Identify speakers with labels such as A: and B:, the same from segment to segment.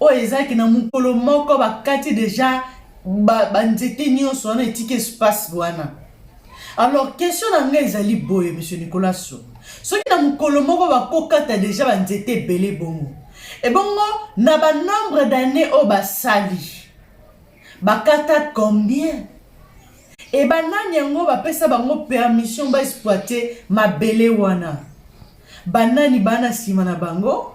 A: oyo eza ke na mokolo moko bakati deja banzete ba nyonso wana etiki espace wana alors question na ngai ezali boye monsieur nicolas so soki na mokolo moko bakokata deja banzete ebele bongo ebongo na banombre d'année oyo basali bakata combien e banani yango bapesa bango permission baexploite mabele wana banani bana nsima na bango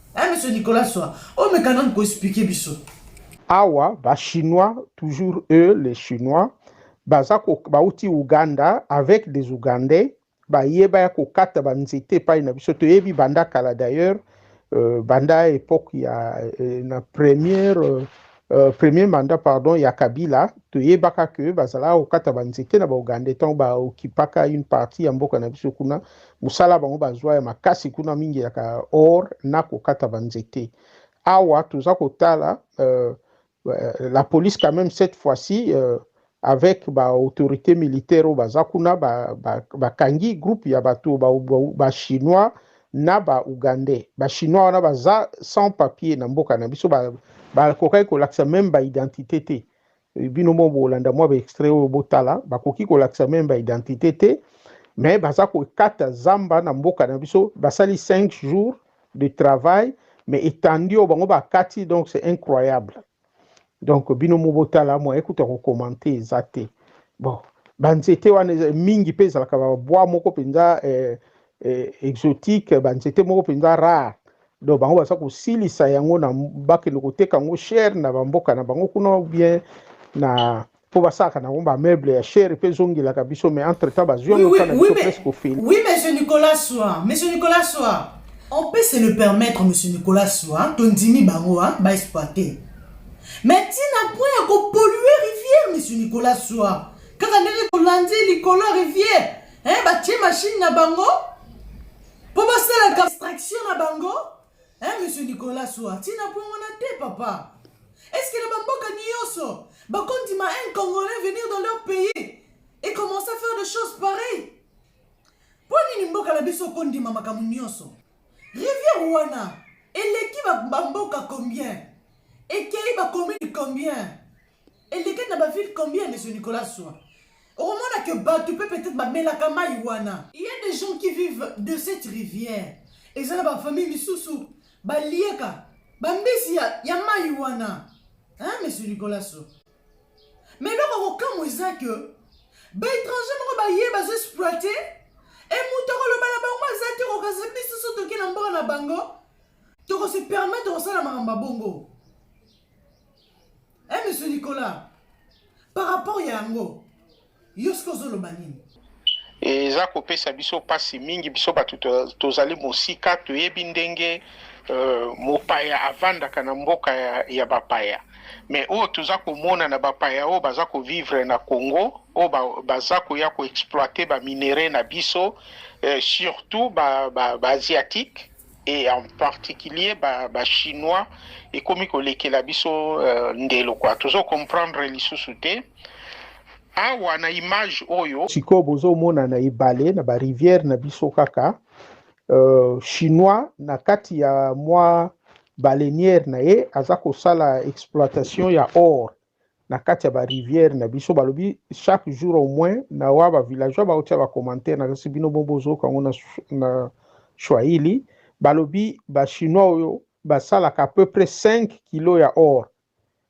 A: Hein, monsieur Nicolas Soa, oh mais quand même ko expliquer biso. Awa,
B: ba Chinois, toujours eux, les Chinois, baza ko, bauti Ouganda avec des Ougandais, baye baya kokata ba nzete epai na biso toyebi banda kala d'ailleurs euh, banda époque ya euh, na première euh, Euh, premier mandat pardon ya kabila toyebaka ke bazalaka kokata banzete na baugandais ntango baokipaka une partie ya mboka na biso kuna mosala bango bazwa ya makasi kuna mingi yaka or na kokata banzete awa toza kotala euh, euh, la police quand même cette fois-ci euh, avec ba autorité militaire oyo baza kuna bakangi ba, ba groupe ya bato ba, ba, ba chinois na ba ougandais ba chinois wana baza sans papier na mboka na biso bakokaki ba kolakisa meme ba identité te eh, bino mo bolanda mwa ba extrait oyo botala bakoki kolakisa meme ba identité te mais baza kokata zamba na mboka na biso basali 5 jours de travail mais etandi oyo bango bakati donc c'est incroyable donc bino mo botala moyen kutu ya kokomante eza te bon banzete wana mingi mpe ezalaka babwa moko mpenza eh, eh, exotique banzete moko mpenza rare donc bango baza kosilisa yango na bakende koteka yango chere na bamboka na bango kuna ou bien na po basalaka nango ba meuble ya chere mpe ezongelaka biso mais entre temps bazwi yango oui, oui, oui, presque ofeli oui monsieur nicolas
A: soa monsieur nicolas soa on peut se le permettre monsieur nicolas soa tondimi bango hein, baexploite mais ntina point ya kopolue rivière monsieur nicolas soa kaka ndenge tolandi likolo ya rivière hein, batie machine na bango mpo basalaka extraction na bango Eh, monsieur Nicolas Soa, tina point wana te papa. Est-ce que na bamboka nioso bakondima un Congolais venir dans leur pays et commencer à faire des choses pareilles? Mpo nini mboka na biso okondima makambo nioso? Rivière wana eleki bamboka combien? Ekei bakomini combien? elekaki na bavile combien ya monsieur nicolas swa okomona ke bato mpe peut-être bamelaka mai wana il y a des gens qui vivent de cette rivière eza na bafamille misusu baliaka bambisi ya, ya mai wana hein, monsieur nicolas swa mais eloko kokamwa eza ke baétranger moko baye bazo exploite e moto akoloba na bango aza te kokasa biso so toke na mboka na bango tokose permettre kosala makambo ya bongo Eh, monsieur Nicolas, par rapport ya yango, yo soki ozoloba nini? eza
B: kopesa biso mpasi mingi biso bato tozali mosika toyebi ndenge uh, mopaya avandaka na mboka ya, ya bapaya me oyo toza komona na bapaya oyo baza kovivre na congo oyo ba, baza koya koexploite baminere na biso uh, surtout baasiatique ba, ba et en particulier ba, ba chinois ekomi kolekela biso euh, ndelo kwa tozo comprendre lisusu te awa na image oyo sikoyo bozomona na ebale na barivière na biso kaka euh, chinois na kati ya mwa baleniere na ye aza kosala exploitation ya or na kati ya ba rivière na biso balobi chaque jour au moins na wa ba villageois baotia ba commentaire na kasi bino bo bozoyoka yango na, na swahili balobi ba chinois oyo basalaka à peu près 5 kilo ya or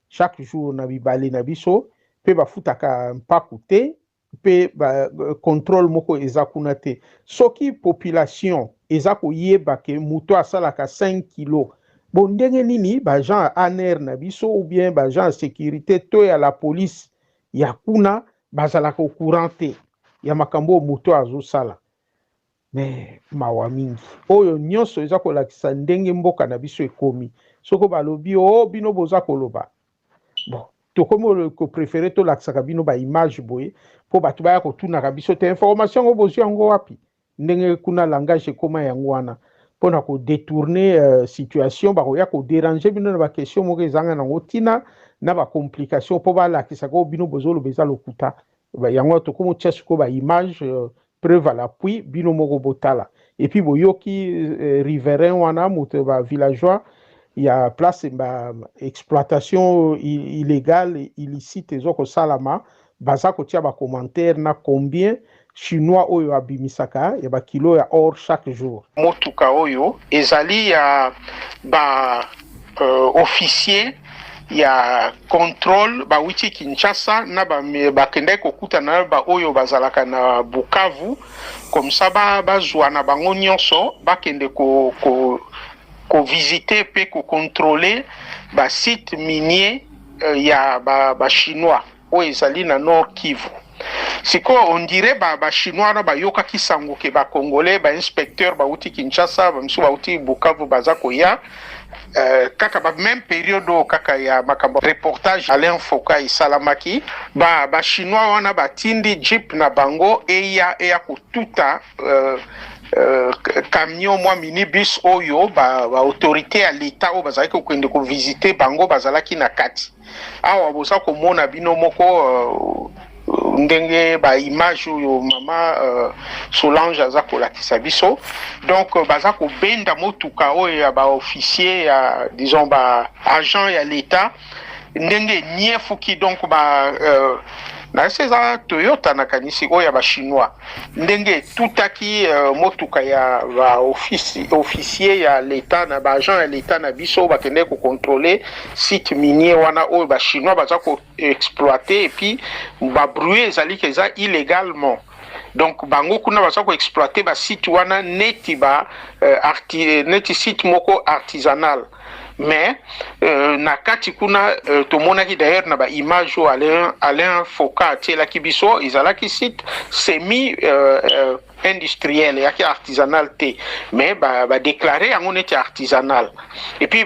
B: chaque jour na bibale na biso mpe bafutaka mpaku te mpe ba controle moko eza kuna te soki population eza koyeba ke moto asalaka 5 kilo bo ndenge nini baagent ya anr na biso ou bien baagent ya securite to ya la police ya kuna bazalaka au courant te ya makambo oyo moto azosala Mais mawa mingi. Oyo nyoso eza kolakisa ndenge mboka na biso ekomi. Soko balobi o oh, bino boza koloba. Bon, tokomi ko prefere tolakisaka bino ba image boye mpo bato baya kotunaka biso te information yango bozwi yango wapi ndenge kuna langage ekoma yango wana mpo na kodetourne uh, situation bakoya koderange bino na baquestion moko ezanga nango ntina na bacomplication mpo balakisaka oyo bino bozoloba eza lokuta yango tokomi otya sikoyo baimage uh, Preuve à l'appui, bino moko botala. Et puis boyoki euh, riverain wana moto ba villageois ya place ba exploitation illégale illicite ezo kosalama baza kotia ba commentaire na combien chinois oyo abimisaka ya bakilo ya or chaque jour. Motuka oyo ezali ya ba uh, officier ya controle bawuti kinshasa na bakendaki kokutana na baoyo bazalaka na bukavu komsa bazwa na bango nyonso bakende ko, ko, kovisite mpe kokontrole basite minier euh, ya bachinois ba oyo ezali na Nord Kivu. Sikoyo on dirait ba, ba chinois wana bayokaki sango ke ba congolais ba inspecteur bauti Kinshasa bamisusu bauti Bukavu baza koya euh, kaka ba même periode oyo kaka ya makambo reportage Alain Foka esalamaki ba, ba chinois wana batindi jeep na bango eya eya kotuta euh, Euh, camion mwa minibus oyo ba, ba autorité ya leta oyo bazalaki kokende kovisite bango bazalaki na kati awa boza komona bino moko uh, ndenge ba image oyo mama uh, Solange aza kolakisa biso donc euh, baza kobenda motuka oyo ya ba officier ya disons ba agent ya l'etat ndenge niefuki donc ba uh, na ese eza Toyota nakanisi oyo ya ba chinois ndenge etutaki uh, motuka ya ba officier ya leta na ba agent ya leta na biso bakendeki kocontrole site minier wana oyo ba chinois baza koexploite epuis babruit ezaliki eza illegalement donc bango kuna baza koexploite basite wana neti ba uh, arti, neti site moko artisanal mais euh, na kati kuna euh, tomonaki d'ailleurs na baimage oyo alain, alain foka atielaki biso ezalaki site semi euh, euh, industriel eyaki artisanal te mais badéclare ba yango neti artisanal epuis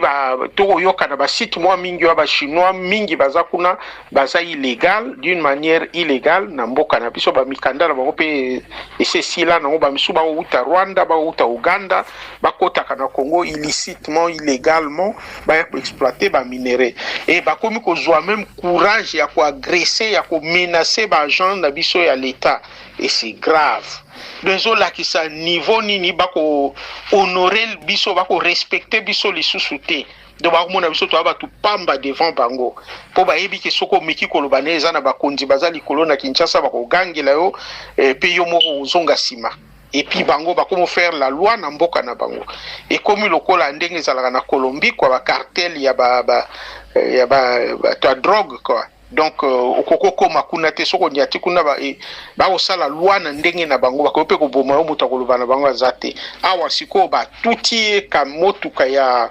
B: tokoyoka na basite mwa mingi oyo bachinois mingi baza kuna baza illegal d'une manière illegale na mboka na biso bamikanda na bango mpe esi esila nango bamisusu bakouta rwanda bakouta uganda bakotaka na congo illicitement illegalement baya koexploite baminere e bakomi kozwa meme courage ya koagresse ya komenace baagent na biso ya leta et c'est grave donc ezolakisa niveau nini bako honore biso bako respecte biso lisusu te donc bakomona biso toya bato pamba devant bango mpo bayebi ke soki omeki koloba na eza na bakonzi baza likolo na kinshasa bakogangela yo eh, mpe yo moko ozonga nsima epuis bango bakomi faire la loi na mboka na bango ekomi lokola ndenge ezalaka na colombie kua bacartel ya ba, ba, eh, ya ba, ba, ba, ba drogue kua donc euh, okoki okoma kuna te soki onyati kuna eh, bakosala lwa na ndenge na bango bakoki mpe koboma yo moto akoloba na bango aza te awa sikoyo batuti ye ka motuka ya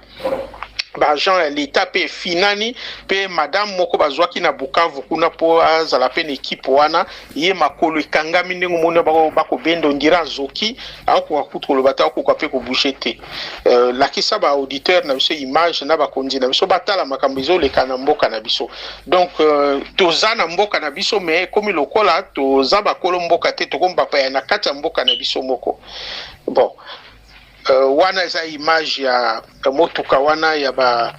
B: baagent ya leta mpe efinani mpe madame moko bazwaki na bukavu kuna mpo azala mpe na ekipe wana ye makolo ekangami ndenge omoni bako bakobenda ondira azoki akokoka kutu koloba te akokoka mpe kobouge te euh, lakisa ba auditeur na biso image na bakonzi na biso batala makambo ezoleka na mboka na biso donc euh, toza na mboka na biso mais ekomi lokola toza bakolo mboka te tokomi bapaya na kati ya mboka na biso moko bon Uh, wana eza image ya motuka wana ya ba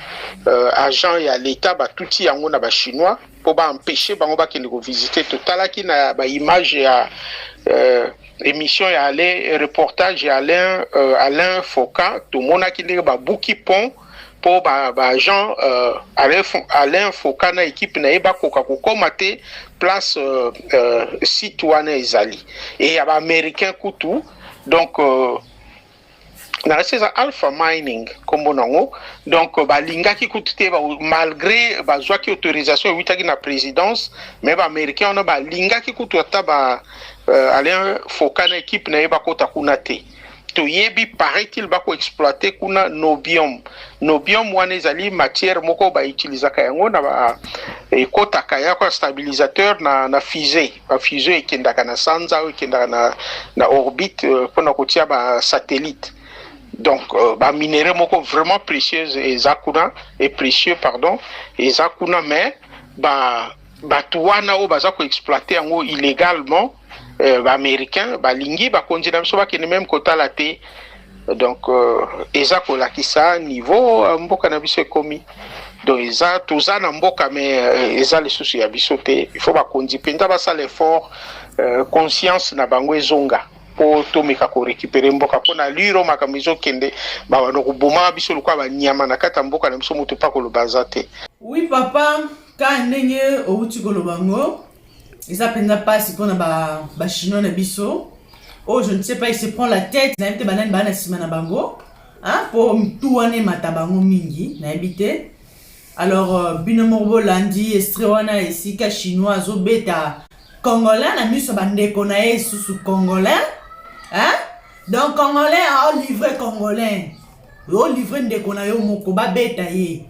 B: uh, agent ya leta batuti yango na bachinois mpo baempeshe bango bakende kovisite totalaki na baimage ya uh, émission ya alain reportage ya alain uh, alain foka tomonaki ndenge babuki pont mpo baagent ba uh, alain foka na ekipe na ye bakoka kokoma te place uh, uh, site wana ezali e ya baaméricain kutu donc euh, na reste eza alpha mining nkombo nango donc euh, balingaki kutu te malgré bazwaki autorisation ewitaki na présidence mais baaméricain wana balingaki kutu ata ba euh, alain foka na équipe na ye bakota kuna te toyebi paraît-il bakoexploite kuna nobium nobium wana ezali matière moko bautilisaka yango na ekotaka yako ya stabilisateur na, na fusée ba fusée ekendaka na sanza oyo ekendaka na, na orbite euh, mpo na kotia basatellite donc euh, baminere moko vraiment précieuse eza kuna e précieux pardon eza kuna mais ba bato wana oyo baza koexploite yango illégalement euh, baaméricain balingi bakonzi na biso bakende meme kotala te donc euh, eza kolakisa niveau euh, mboka na biso ekomi donc eza toza na mboka me euh, eza lisusu ya biso te il faut bakonzi mpenza basala effort euh, conscience na bango ezonga mpo tomeka korekipere mboka mpo na liro makambo ezokende bawanda kobomaka biso lokola banyama na kati ya mboka na biso moto mpe akoloba aza te wi papa
A: ka ndenge outi koloba ngo eza mpenza mpasi mpona bachinois na biso oyo je ne sais pas il se prend la tête nayebi te banani baa na nsima na bango mpo mitu wana emata bango mingi nayebi te alors euh, bino moko bolandi estre wana esika chinois azobeta congolais na miso bandeko na ye esusu congolais hein? donc congolais olivre congolais olivre ndeko na yo moko babeta ye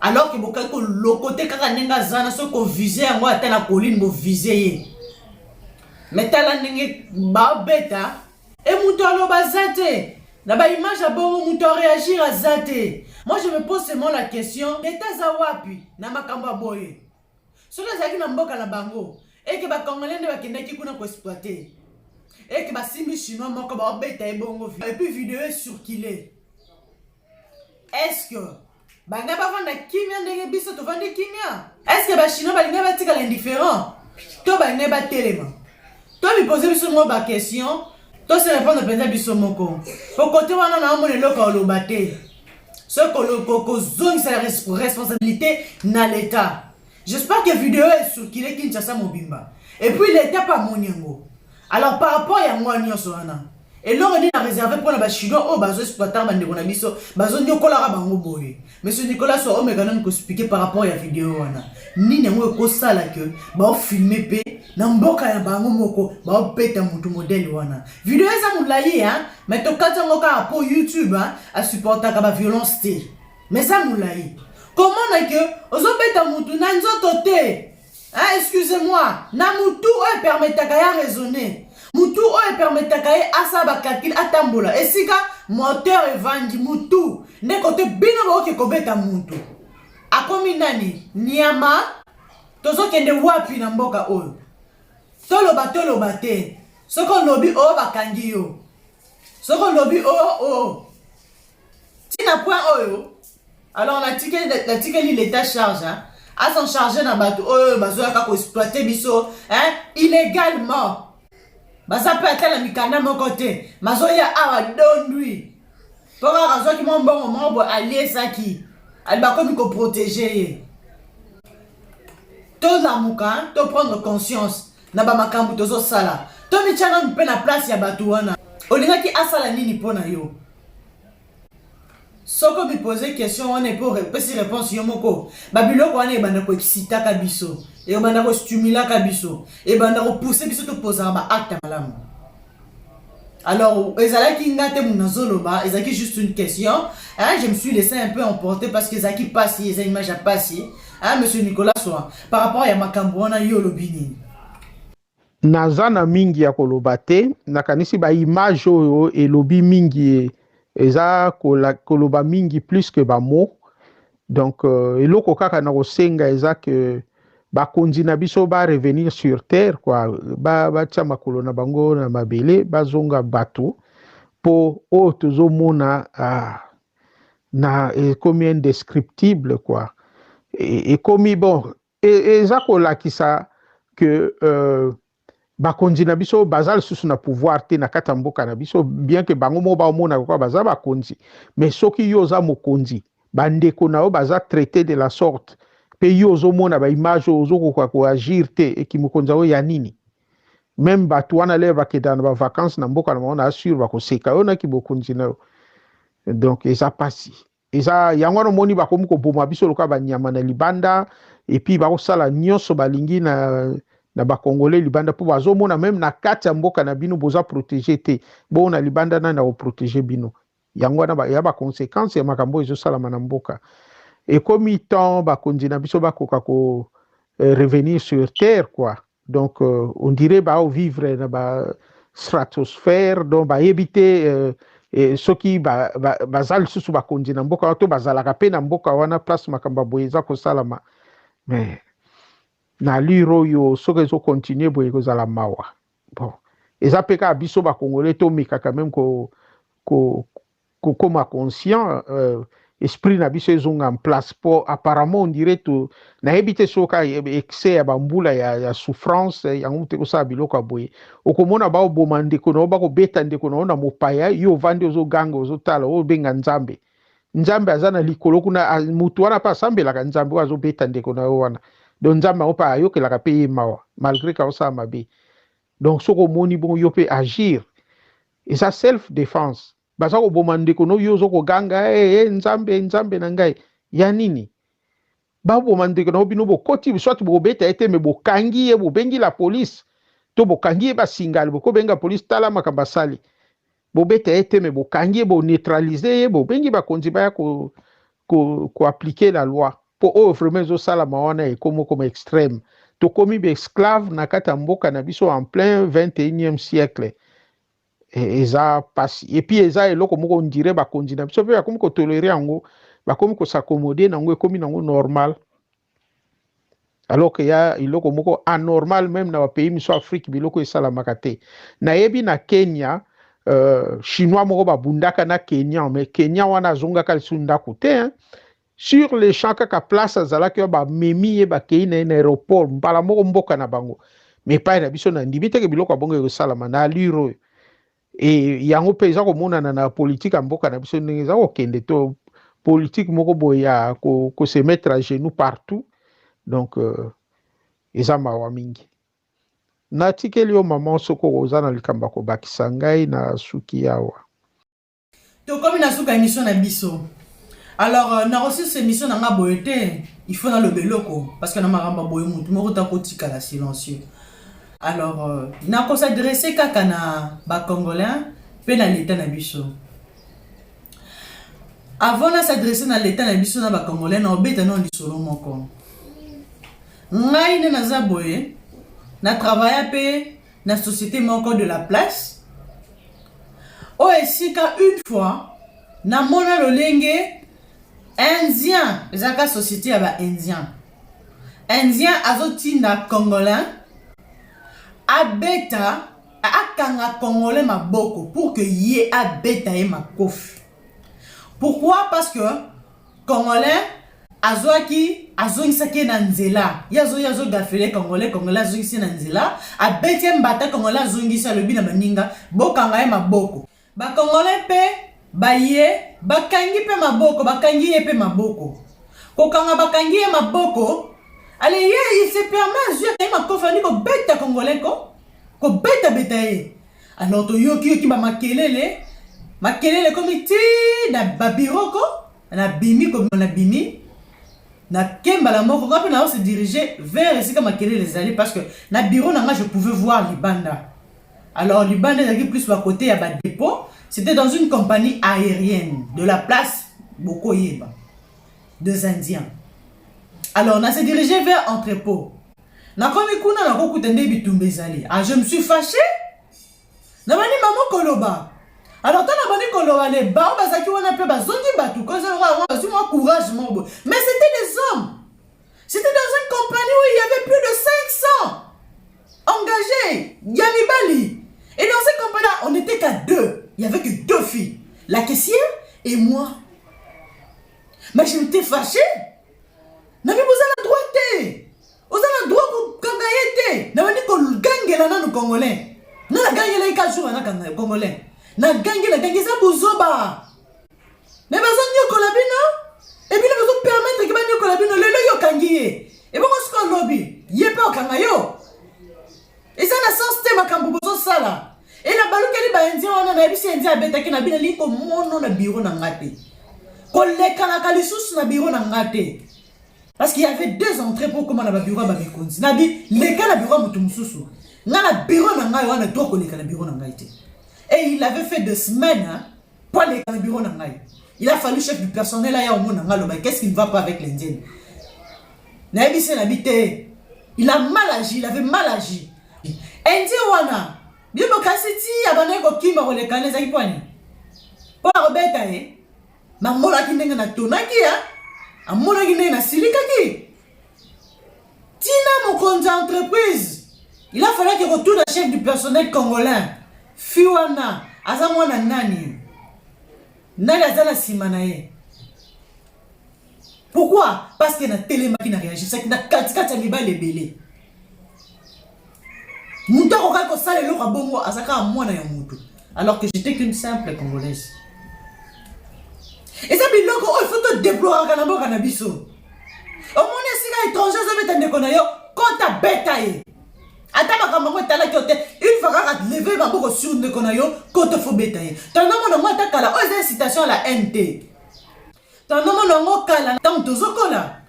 A: alors que bokaki kolokote kaka ndenge aza na soki kovise yango ata na colline bovise ye me tala ndenge babeta e moto aloba aza te na baimage ya bongo moto areagir aza te moi je me pose seulement la question leta aza wapi na makambo ya boye soki azalaki na mboka na bango eke bacongolais nde bakendaki kuna koexploite eke basimbi chinois moko baobeta ye bongo epuis video ecircule estce banga bavanda kimia ndenge biso tovandi kimia estce bachinois balingai batikala indifférent to balingai batelema to mipose biso moko baquestion tose repondre mpenza biso moko po kote wana naomona eloko oloba te soki kozongisa responsabilité na leta j'espère que video esukile kinshasa mobimba et puis leta mpe amoni yango alors par rapport ya mwa nyonso wana eloko nini na réserve mpo na bachinois oyo bazo exploitaka bandeko na biso bazonyokolaka bango boye monsieur nicolas so omeka nani koexplike par rapport ya video wana nini yango ekosala ke baofilme mpe na mboka ya bango moko baopeta motu modele wana Video eza mulayi hein, mais tokati yango kaka po YouTube hein, asupportaka ba violence te. Mais eza mulayi. Komona ke ozobeta mutu na nzoto te. Hein, excusez-moi, na mutu oyo permetaka ya raisonner. Mutu oyo permetaka ye asala ba calcul atambola. Esika moteur evandi mutu nde kote bino baoke kobeta mutu. Akomi nani? Nyama. Tozokende wapi na mboka oyo? Toloba toloba te. Soki olobi oh bakangi yo. Soki olobi oh oh. Tina point oyo. Alors natikeli l'etat charge. Hein? à s'en charger na bato oyo bazoyaka koexploite biso hein? illégalement baza mpe ata na mikanda moko te mazoya awa dondwi mpo kaka azwaki mwa mbongo moko boye aliesaki ali bakomi koprotege ye tolamuka to prendre conscience na bamakambo tozosala tomitya nanu mpe na place ya bato wana olingaki asala nini mpo na yo soki omipose question wana epo opesi réponse yo moko babiloko wana ebanda koexcitaka biso ebanda kostimulaka biso ebanda kopousse biso topozaka baacte malamu Alors, ezalaki nga te muna zoloba, ezalaki juste une question. Hein, je me suis laissé un peu emporter parce que ezalaki pasi, eza image ya pasi. Hein, monsieur Nicolas Soa, par rapport ya makambo wana yo olobi nini?
B: Naza na mingi ya koloba te, nakanisi ba image oyo elobi mingi eza koloba mingi plus que ba mots. donc euh, eloko kaka na kosenga eza ke bakonzi na biso ba revenir sur terre kua batia ba makolo na bango na mabele bazonga bato mpo oyo oh, tozomona ah, na ekomi indescriptible kua e, ekomi bon E, eza kolakisa que euh, bakonzi na biso baza lisusu na pouvoir te na kati ya mboka na biso bien ke bango moko baomonaka kaka baza bakonzi mais soki yo oza mokonzi bandeko na yo baza traite de la sorte mpe yo ozomona baimage oyo ozokoka koagir te ekimokonzi yango ya nini meme bato wana lere bakendaka na bavacance na mboka na bango na assure bakoseka yo na kimokonzi na yo donc eza mpasi eza yango wana omoni bakomi koboma biso lokola banyama na libanda epuis bakosala nyonso balingi na, na bakongole libanda mpo bazomona meme na kati ya mboka na bino boza protege te bongo na libanda nani akoprotege bino yango wana ya baconsequence ya makambo oyo ezosalama na mboka ekomi temps bakonzi na biso bakoka ko eh, revenir sur terre quoi donc euh, on dirait bao vivre na ba stratosphère donc bayebi te euh, eh, soki baza ba, ba lisusu bakonzi na mboka wana to bazalaka mpe na mboka wana place makambo ya boye eza kosalama mais na allure oyo soki ezokontinue boye ekozala mawa bon eza mpe kaka biso bakongole tomekaka meme ko, ko, kokoma conscient euh, esprit na biso ezonga en place po apparemment on dirait to nayebi te soki excès ya bambula ya, ya souffrance yango moto ekosala biloko ya boye okomona baoboma ndeko na yo bakobeta ndeko na yo na mopaya yo ovandi ozoganga ozotala obenga nzambe nzambe aza na likolo kuna motu wana mpe asambelaka nzambe oyo azobeta ndeko na yo wana donc nzambe yango mpe ayokelaka mpe ye mawa malgré kaosala mabe donc soki omoni bongo yo mpe agir eza self defense baza koboma ndeko no yo ozo koganga hey, eh, eh, hey, nzambe nzambe na ngai ya nini baboma ndeko na yo bino bokoti soit bobeta ye te me bokangi ye bobengi la police to bokangi ye basingale bokobenga police tala makambo asali bobeta ye te me bokangi ye boneutralize ye bobengi bakonzi baya ko ko, ko appliquer la loi po oyo vraiment ezosalama wana ekomi koma extreme tokomi baesclave na kati ya mboka na biso en plein 21e siècle e, eza pasi epuis eza eloko moko ondire bakonzi na biso mpe bakomi kotolere yango bakomi kosakomode nango ekomi nango normal alors que ya iloko moko anormal même na bapays miso afrique biloko esalamaka te nayebi na kenya euh, chinois moko babundaka na kenyan mais kenyan wana azongaka lisu ndako te hein? sur le champ kaka place azalaki oyo bamemi ye bakei na ye na aéroport mbala moko mboka na bango mais epai na biso na ndimi teke biloko ya bongo ekosalama na allure oyo e yango mpe eza komonana na politike ya mboka na biso ndenge eza kokende to politike moko boye ya kosemetre ko à genoux partout donc euh, eza mawa mingi natikeli yo mama soko oza na likambo ya kobakisa ngai na suki awa
A: tokomi na suka emission na biso alors euh, na resus emission na nga boye te il faut naloba eloko parce que na makambo boye motu moko ta kotikala silencieux alors euh, na kosadresse kaka na bacongolais mpe na leta na biso avant na s'adresse na leta na biso na bacongolais na obeta nao lisolo moko ngai nde naza boye na travailla mpe na société moko de la place oyo oh, esika une fois namona lolenge indien ezalaka société ya baindien indien azotinda congolais abeta akanga congolais maboko pour que ye abeta ye makofi pourquoi parce que Congolais azwaki azongisaki ye na nzela ye azoyi azogafele congolais congolais azongisi ye na nzela abeti ye mbata congolais azongisi alobi na baninga bokanga ye maboko bacongolais mpe baye bakangi mpe maboko bakangi ye mpe maboko kokanga bakangi ye maboko ale ye il se permet azwi akangi makofi andi kobeta congolais ko kobetabeta ye Alors toyoki yoki ba makelele makelele ekomi ti na babiroko nabimi kobima nabimi nake mbala moko ngai mpe nao se dirige vers esika makelele ezali parce que na bureau na ngai je pouvais voir libanda alors libanda ezalaki plus ba côté ya badépôt c'était dans une compagnie aérienne de la place bokoyeba deux indiens alors na se dirige vers entrepôt Nakomi kuna nakokuta nde bitumba ezali. Ah, je me suis fache nabandi bango koloba alors ntango nabandi koloba le bao bazalaki wana mpe bazongi bato bazwi mwa courage moko boye mais c'était des hommes c'était dans une compagnie où il y avait plus de 500 engagés ya mibali et dans cette compagnie là on était qu'à deux il y avait que deux filles la caissière et moi mais je m'étais fâchée na mimi oza na droit te oza na droit kokanga ye te nabandi kogangela nanu congolais nga nagangelaki ka jour anakanga congolais nagangi nagangi eza buzoba me bazonyokola bino ebino bazopermetre ke banyokola bino lelo yo okangi ye ebongo soki olobi ye mpe okanga yo eza na sens te makambo bozosala e nabalukeli baindien wana nayebisi indien abetaki na bino lingi komono na biro na nga te kolekanaka lisusu na biro na nga te parce qu'il y avait deux entrées mpo okoma na babiro ya bamikonzi na bi leka na biro ya moto mosusu nga na biro na ngai wana to koleka na biro na ngai te et il avait fait de semaine hein? Po aleka na bureau na ngai. Il a fallu chef du personnel aya omona ngai aloba qu'est-ce qui ne va pas avec l'indienne. Nayebisi na bi te. Il a mal agi, il avait mal agi. Indien wana bino bokasi ti abandaki kokima kolekana ezalaki pwani mpo na kobeta ye namonaki ndenge natonaki ya amonaki ndenge nasilikaki tina mokonzi ya entreprise il a falaki kotuna chef du personnel congolais fi wana aza mwana nani nani aza na nsima na ye pourquoi parce que natelemaki na réagisaki na katikati ya mibali ebele moto akokaki kosala eloko ya bongo aza kaka mwana ya moto alors que j'étais qu'une simple congolaise eza biloko oyo fo todeploraka na mboka na biso omoni esika étranger azobeta ndeko na yo kota beta ye ata makambo yango etalaki yo te une fois kaka leve maboko sur ndeko na yo koto fo beta ye tondamona ngo ata kala oyo eza incitation ya la haine te Tandoma na ngo kala ntango tozokola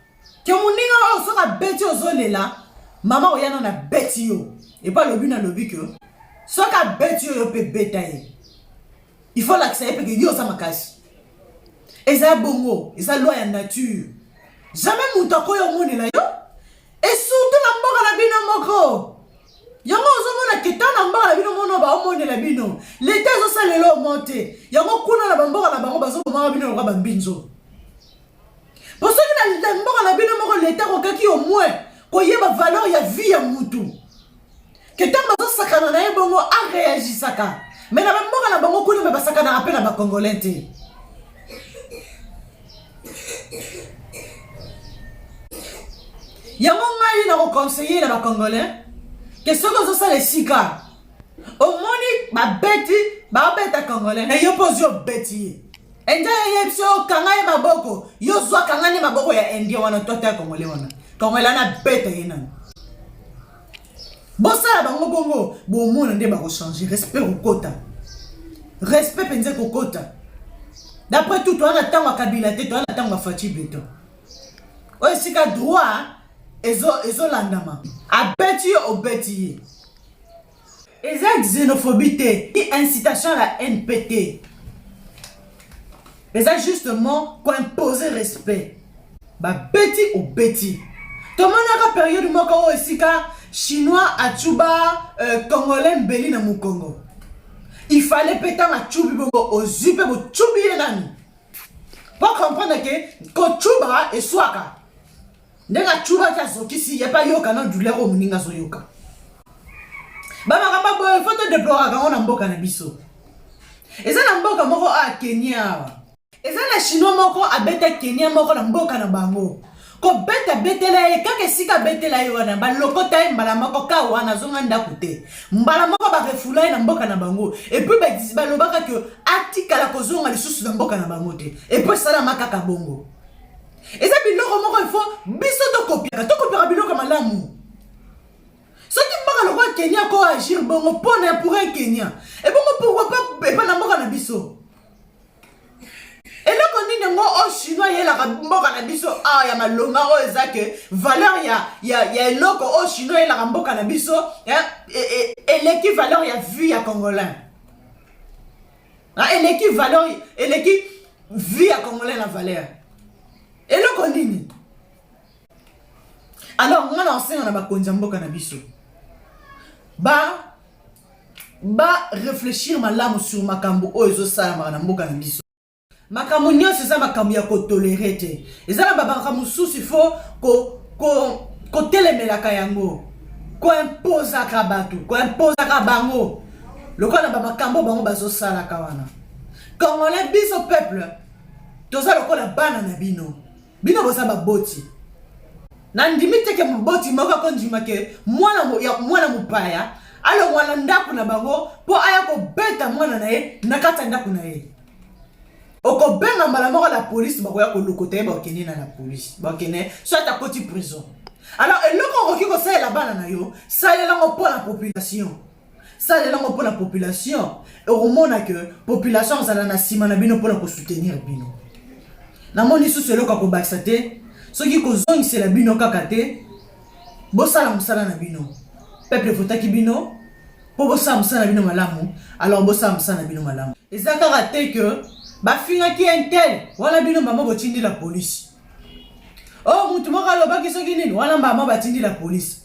A: ke moninga oyo soki abeti ozolela mama oya nano abeti yo epo alobi nalobi ke soki abeti yo yo mpe beta ye il faut olakisa ye mpe ke yo oza makasi eza bongo eza loi ya nature jamais moto akoya omonela yo esurtout na mboka na bino moko yango ozomona ke ntango na mboka na bino mono baomonela bino leta ezosalela elomo te yango kuna na bamboka na bango bazobomaka bino lokola bambinzo po soki na mboka na bino moko leta kokaki omwe koyeba valeur ya vie ya mutu ke ntango bazosakana na ye bongo areagisaka me na bamboka na bango kuna me basakanaka mpe na bacongolais te yango ngai na koconseille na bacongolais ke soki ozosala esika omoni babeti babeta congolais na yo mpo ozwi obeti ye endia yeyebi so okanga ye maboko yo zwa kanga nde maboko ya indien wana to ata ya congolais wana congolais wana abeta ye nani bosala bango bongo bomona nde bakochange respect kokota respect mpenza kokota d'après tout toza na ntango ya kabila te toza na ntango ya faci beton oyo esika droit ezolandama ezo abeti yo obeti ye eza xenophobie te incitation ya la npt eza justement ko imposer respect babeti obeti tomonaka periode moko oyo esika chinois acuba euh, congolais mbeli na mokongo il fallait mpe ntango acubi bongo ozwi mpe bocubi ye nani po comprendre ke kocuba eswaka ndenge acubaki azokisi ye mpe ayoka na douleur oyo moninga azoyoka bamakambo boye fo todeploraka yango na mboka na biso eza na mboka moko a kenya awa eza na chinois moko abeta kenya moko na mboka na bango kobeta betela ye kaka esika abetela ye wana balokota ye mbala moko ka wana azonga ndako te mbala moko barefula ye na mboka na bango epuis balobaka ke atikala kozonga lisusu na mboka na bango te epuis esalama kaka bongo eza biloko moko ifo biso tokopiaka tokopiaka biloko malamu soki mboka lokola kenya ko agir bongo mpo na pour un kenya ebongo pourkoi pa epa na mboka na biso eloko nini yango o oh, chinois yelaka mboka na biso awa ah, ya malonga oyo oh, eza ke valeur ya, ya, ya eloko oyo oh, chinois yelaka mboka na biso eh, eh, eh, eleki valeur ya vie ya congolais Ah, eleki valeur eleki vie ya congolais na valeur eloko nini alors nga na osenga na bakonzi ya mboka na biso ba ba réfléchir malamu sur makambo oyo ezosalamaka na mboka na biso makambo nyonso eza makambo ya kotolere te eza na babaka mosusu ifo kotelemelaka ko, ko, yango koimpozaka bato koimpozaka bango lokola na bamakambo bango bazosalaka wana congolais biso peuple toza lokola bana na bino bino boza baboti nandimi te ke moboti moko akondima ke mwana mwana mopaya alongwa na ndako na bango mpo aya kobeta mwana na ye na kati ya ndako na ye okobenga mbala moko la polise bakoya kolokota ye bakende na la polise bakende so ata koti prison alors eloko okoki kosalela bana na yo salela yango mpo na population salela yango mpo na population okomona ke population azala na nsima na bino mpo na kosoutenir bino namoni lisusu eloko ya kobakisa te soki kozongisela bino kaka te bosala mosala na bino peuple votaki bino mpo bosala mosala na bino malamu alors bosala mosala na bino malamu eza kaka te ke bafingaki intel wana bino mbama botindi la polisi o oh, motu moko alobaki soki nini wana mbama batindi la polisi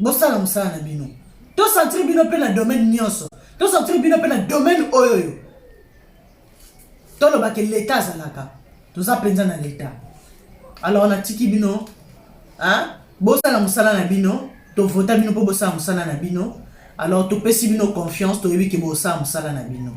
A: bosala mosala na bino tosantiri bino mpe na domaine nyonso tosantiri bino mpe na domaine oyo oyo tolobake leta azalaka toza mpenza na leta alors natiki bino bosala mosala na bino tovota bino mpo bosala mosala na bino alors topesi bino confiance toyebi ke bosala mosala na bino